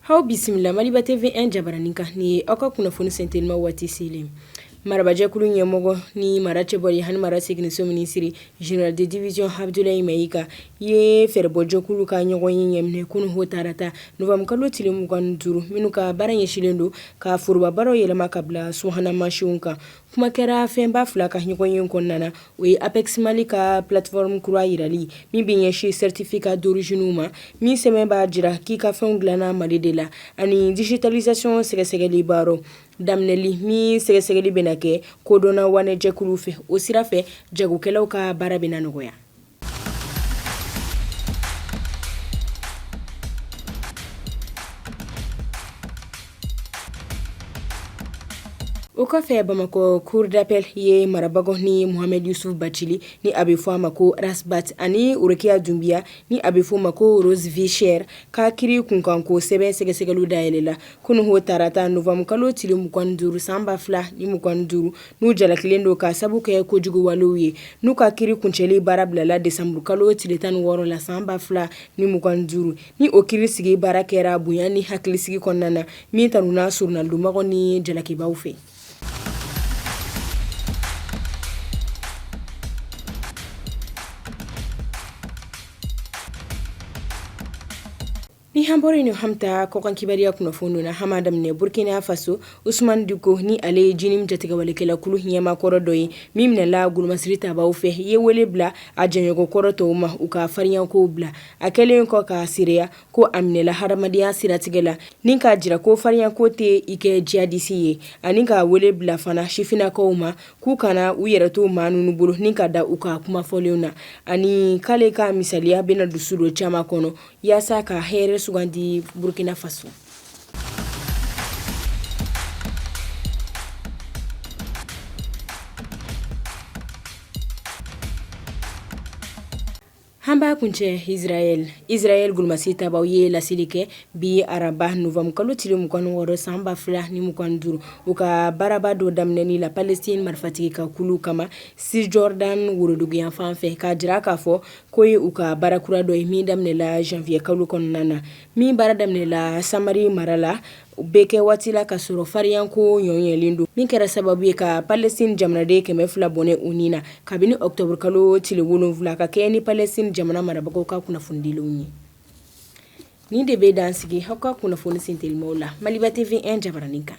Aw bisimila Maliba TV 1 jabaranin kan ni aw ka kunnafoni sentelima waati selen marabajɛkulu ɲɛmɔgɔ ni mara cɛbɔli ani mara seginso minisiri général de division Abdoulaye Maïga Ye fɛɛrɛbɔjɛkulu ka ɲɔgɔnye ɲɛminɛ kunun o tarata novembre kalo tile mugan duuru minnu ka baara ɲɛsinlen don ka forobabaaraw yɛlɛma ka bila subahana mansinw kan kuma kɛra fɛnba fila kan ɲɔgɔnye kɔnɔna na o ye APEX Mali ka plateforme kura jirali min bɛ ɲɛsin certificat d'origine ma min sɛbɛn b'a jira k'i ka fɛn dilanna mali de la ani digitalisation sɛgɛsɛgɛli baara daminɛli min sɛgɛsɛgɛli bɛ na kɛ kodɔnna waanɛjɛkulu fɛ o sira fɛ jagokɛlaw ka baara bɛ na nɔgɔya o kɔfɛ bamakɔ cour d'appel ye marabagaw ni Mohamed Yusuf bacili ni a bɛ fɔ a ma ko Ras Bath ani worokiya dunbiya ni a bɛ f'o ma ko Rose Vie Chère ka kiri kunkanko sɛbɛn sɛgɛsɛgɛli dayɛlɛla kunun o tarata novembre kalo tile mugan duuru san ba fila ni mugan duuru n'u jalakilen don ka sabu kɛ kojuguwalew ye n'u ka kiri kuncɛli baara bilala desanburukalo tile tan ni wɔɔrɔ la san ba fila ni mugan duuru ni o kiri sigi baara kɛra bonya ni hakilisigi kɔnɔna na min tanuna soronadonmɔgɔw ni jalakibaaw fɛ Ni an bɔra yen an bɛ taa kɔkan kibaruya kunnafoni na an b'a daminɛ burukina faso Usmani Diko ni ale ye JNIM jatigɛwalekɛlakulu ɲɛmaakɔrɔ dɔ ye min minɛla golomasiri tabaw fɛ ye wele bila a jɛɲɔgɔnkɔrɔ tɔw ma u ka farinyakow bila a kɛlen kɔ ka seereya ko a minɛla hadamadenya siratigɛ la ni k'a jira ko farinyako tɛ i kɛ jihadisi ye ani k'a wele bila fana sifinnakaw ma k'u kana u yɛrɛ to maa ninnu bolo ni ka da u ka kumafɔlenw na ani k'ale ka misaliya bɛna dusu don caman kɔnɔ Yaasa ka hɛrɛ sugandi Burkina Faso. An b'a kuncɛ Israël, Israël golomasiri tabaw ye laseli kɛ bi araba novembre kalo tile 26 san 2025 u ka baaraba dɔ daminɛni la Palestine marifatigi ka kulu kama Cisjordanie woroduguyanfan fɛ k'a jira k'a fɔ K'o ye u ka baara kura dɔ ye min daminɛla janvier kalo kɔnɔna na min baara daminɛla samari mara la o bɛ kɛ waati la ka sɔrɔ fariyanko ɲɔɲɛlen don min kɛra sababu ye ka Palestine jamanaden kɛmɛ fila bɔnɛ u ni na kabini octobre kalo tile wolonwula ka kɛɲɛ ni Palestine jamana marabagaw ka kunnafonidilenw ye nin de bɛ dan sigi aw ka kunnafoni sentelimaw la Maliba TV 1 jabaranin kan.